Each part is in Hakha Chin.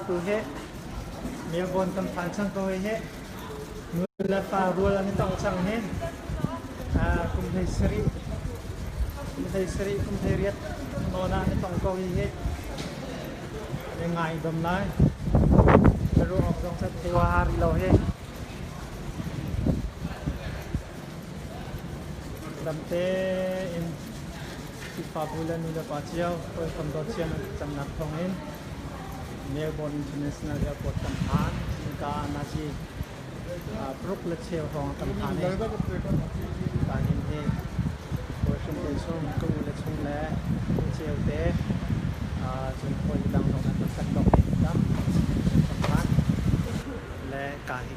tu hi Melbourne kan phan chan ko hi nu le pa rual an i tong cang hi kum hlei sarih kum hlei sarih kum hlei riat nawn ah an i tong ko hi hi an i ngai bam lai ka ruang awk zong cu khua ha rih lo hi Ramte in Khrihfabu le nulepa cio hawikom dothiam an thlacamnak thawngin Melbourne International Airport tam hlan nika ah Nazi paruk le cheu hrawng tam hlan i tahhin hi hawi hrimte chung ka u le chung le nu cheu te cun hawi dang zong an rak kan dok i tam tam hlan le ka hi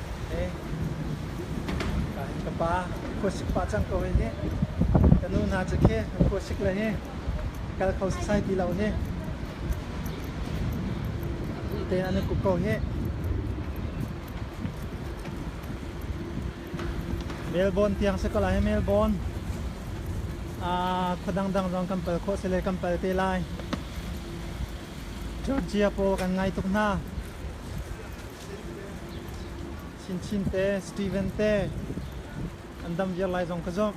Kaa hin ka pa khuasik pah cang ko hi nih. Ka nu hna cu khi an khuasik le hi kal kho sasai ti lo hi. Duh tein an i kup ko hi. Melbourne tiang si ko lai hi Melbourne. Ah khua dangdang zong kan pal khawh si le kan pal te lai. Georgia pawl kan ngai tuk hna. Chinchin te, Steven te an dam viar lai zong ka zok.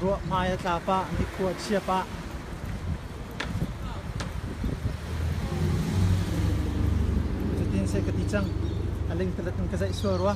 Ruah hmai a tlap ah, nikhua a chiap ah. Cutin sai ka ti cang. A ling talat in ka zaih sual rua.